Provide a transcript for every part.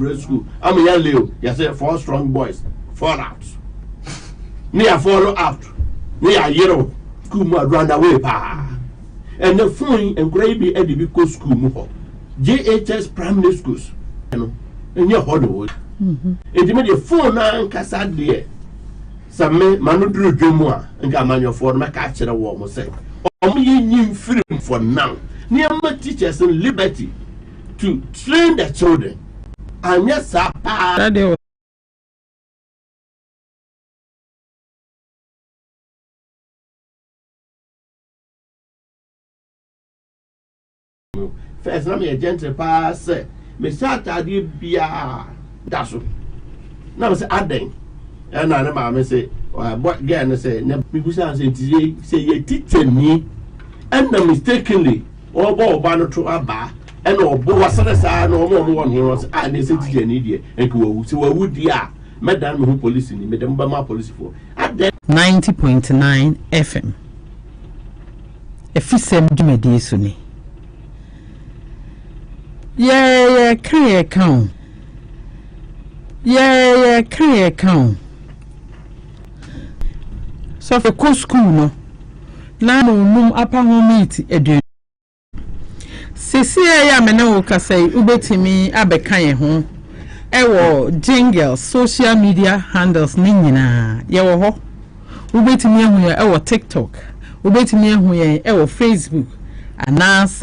Prep school ama yɛ leo yɛ sɛ four strong boys fall out ne yɛ fall out ne yɛ ayerɛw school mu a run away paa ɛnɛ fon yi nkora yi bi ɛde bi kɔ school mu hɔ JHS primary schools ɛno ɛnyɛ hɔ na wɔyi ɛdi mi deɛ fon na nkasa deɛ sɛ me ma no duru dwa mu a nka amanyɔfoɔ no mɛka akyerɛ wɔn sɛ wɔn yɛ nyi mfiri for now nneɛma teachers in liberty to train the children anyɛ saa paa. first na meyɛ gentle paa sɛ mehyɛ ataadeɛ biaa da so na me sɛ adɛn ɛna ne maame sɛ gɛɛ no sɛ mebusaa sɛ nti sɛ yɛ tikyani ɛna mistakenly Ɔbɔ ɔba no to abaa ɛna ɔbo wasa no saa na ɔma ɔmo wɔ no ho sɛ a ne sɛ tikya ni deɛ nka wawu sɛ wawu deɛ a mɛdan me ho polisi ni mede mo bɛma polisifoɔ adɛn. Ninety point nine FM Afisɛm dwumadie so ni. Yɛɛ yɛka yɛka o. Yɛɛ yɛka yɛka o. Sɔfo kɔ skuul no, na munnum apa ho meat aduan. Sesei a me ne wo rekasa yi, wubetumi abɛka yɛn ho wɔ Jingles social media handles no nyinaa. Yɛwɔ hɔ. Wubetumi ahu yɛn wɔ TikTok, wubetumi ahu yɛn wɔ Facebook, anaasɛ.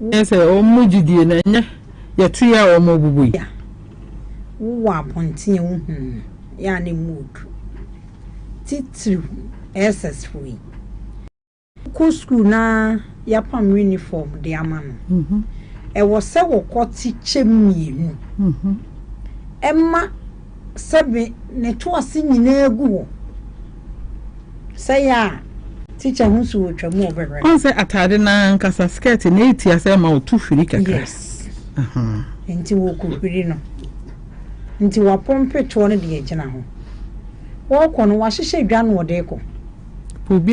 Ɛne sɛ, wɔn mu gyidie no, ɛnyɛ yɛte yɛ a wɔbubu yi. Wowɔ abɔnten a wohu no, yɛ a na emu redu, titiriw SS fo yi. Wokɔ sukuu na yɛapam yunifɔm de ama no, ɛwɔ sɛ wɔkɔte kyɛm mmienu ma Sɛ me ne to ase nyinaa gu hɔ sɛ yɛ a teacher ho so wɔ twam ɔbɛhwɛ. Ɔn sɛ ataade no ankasa skirt na ɛti asɛ ɛma ɔtu hwiri kakra. Yes. Uh -huh. Nti wɔkɔ hwiri no. Nti wapɔmpe toɔ no de agyina ho. Wɔkɔ no wahyehyɛ dwa no ɔde kɔ. Obi